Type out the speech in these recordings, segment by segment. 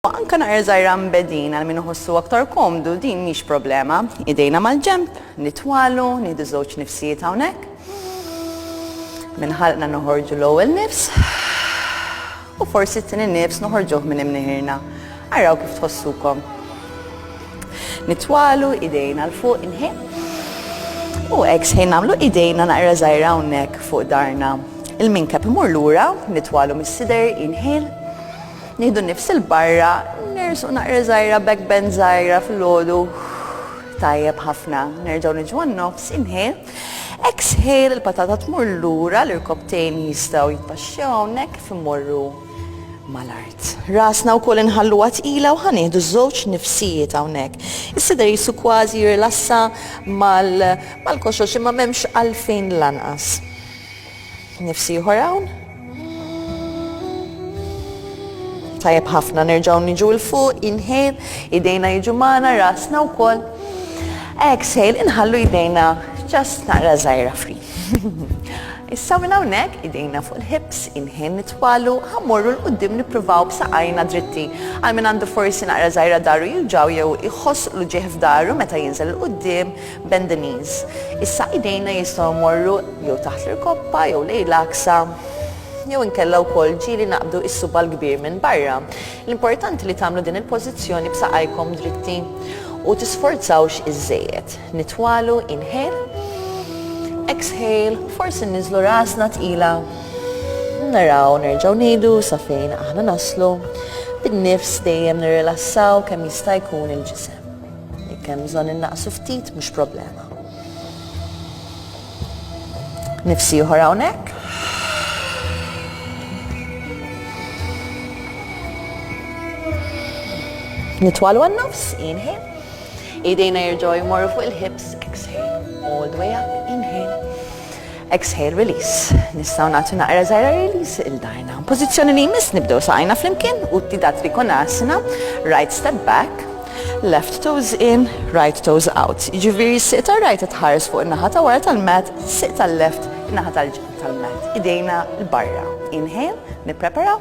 U anke naqra żgħira mbegħdin għal min iħossu aktar komdu, din mhix problema. Idejna mal-ġenb, nitwalu, nieħdu żewġ nifsijiet hawnhekk. Minn ħalqna noħorġu l-ewwel nifs u forsi t-tieni nifs noħorġuh minn imniħirna. Araw kif tħossukom. Nitwalu idejna l fuq inħin. U eks ħin nagħmlu idejna naqra żgħira hawnhekk fuq darna. Il-minkep imur lura, nitwalu mis-sider inħil Nieħdu n-nifs 'il barra, nersqu naqra żgħira back bend żgħira fil-għodu. Tajjeb ħafna. Nerġgħu niġu għan-nofs, inhale. Exhale, il-patata tmur lura, l-irkopptejn jistgħu jitpaxxew hawnhekk kif immorru mal-art. Rasna wkoll inħalluha tqila u ħanieħdu żewġ nifsijiet hawnhekk. Is-sider jisu kważi jirlassa mal-koxox imma m'hemmx għalfejn lanqas. Nifs ieħor hawn. Tajjeb ħafna nerġgħu niġu l fuq, inhale, idejna jiġu magħna, rasna wkoll. Exhale, inħallu idejna ġast naqra żgħira fri. Issa minn hawnhekk idejna fuq il-hips, inhale nitwalu, ħammorru l qudiem nippruvaw b'saqajna dritti. Għal min għandu forsi naqra żgħira daru juġaw jew iħoss l-ġieħ f'daru meta jinżel l qudiem Bend the knees. Issa idejna jistgħu jmorru jew taħt l-irkoppa jew lejn l-għaksa jew inkella wkoll ġieli naqbdu is-suba' l-kbir minn barra. L-importanti li tagħmlu din il-pożizzjoni b'saqajkom dritti u tisforzawx iżżejjed. Nitwalu, inhale, exhale, forsi nniżlu rasna tqila. Naraw nerġgħu ngħidu sa fejn aħna naslu. Bin-nifs dejjem nirrilassaw kemm jista' jkun il-ġisem. Jekk hemm bżonn innaqsu ftit mhux problema. Nifsi ieħor hawnhekk. Nitwalu għan-nofs, inhale. Idejna jirġgħu jmorru fuq il-hips, exhale. All the way up, inhale. Exhale, release. Nistgħu nagħtu naqra żgħira release 'il darna. Pożizzjoni li jmiss nibdew saqajna flimkien u tida trikonasana, right step back, left toes in, right toes out. Jiġifieri s-siq tar-right tħares fuq in-naħa ta' wara tal-mat, siq tal-left in-naħa tal-ġenb tal-mat. Idejna l-barra. Inhale, nipprepara.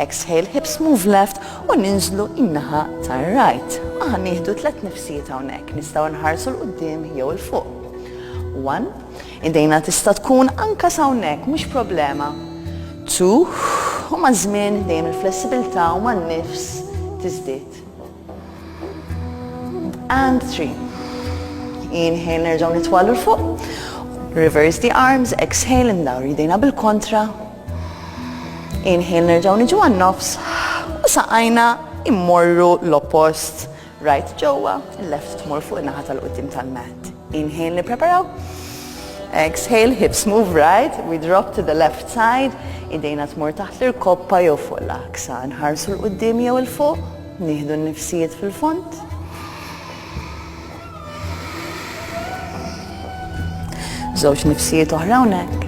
Exhale, hips move left u ninżlu in-naħa tar-right. Aħna nieħdu tliet nifsijiet hawnhekk, nistgħu nħarsu l-qudiem jew il-fuq. One, Idejna tista' tkun anke s'hawnhekk, mhux problema. Tuh, u maż-żmien dejjem il-flessibilità u man-nifs tiżdied. And three. Inhale nerġgħu nitwallu 'l fuq. Reverse the arms, exhale indawru idejna bil-kontra. Inhale nerġgħu niġu għan-nofs u saqajna immorru l-oppost Right ġewwa, left tmur fuq in-naħa tal-quddiem tal-mat. Inhale nippreparaw. Exhale, hips move right, we drop to the left side, idejna tmur taħt l-irkoppa jew fuq l-aksa, nħarsu l-qoddim jew il-fuq, nieħdu n-nifsijiet fil-font. Żewġ nifsijiet oħra hawnhekk.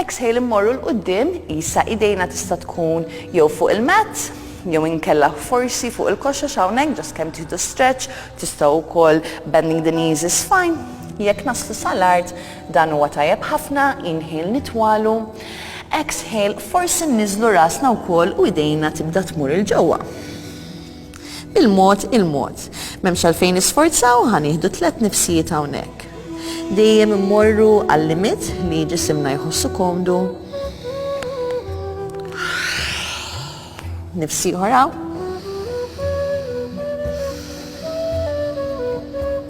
Exhale immorru 'l quddiem, qisha idejna tista' tkun jew fuq il-mat, jew inkella forsi fuq il-koxox hawnhekk ġast kemm tieħdu stretch, tistgħu wkoll bending the knees is fine. Jekk naslu sal-art dan huwa tajjeb ħafna, inhale nitwalu, exhale forsi nniżlu rasna wkoll u idejna tibda tmur 'il ġewwa. Bil-mod il-mod. M'hemmx għalfejn nisforzaw, ħa nieħdu tliet nifsijiet hawnhekk. Dejjem immorru għal-limit li ġisimna jħossu komdu. Nifsi ħoraw.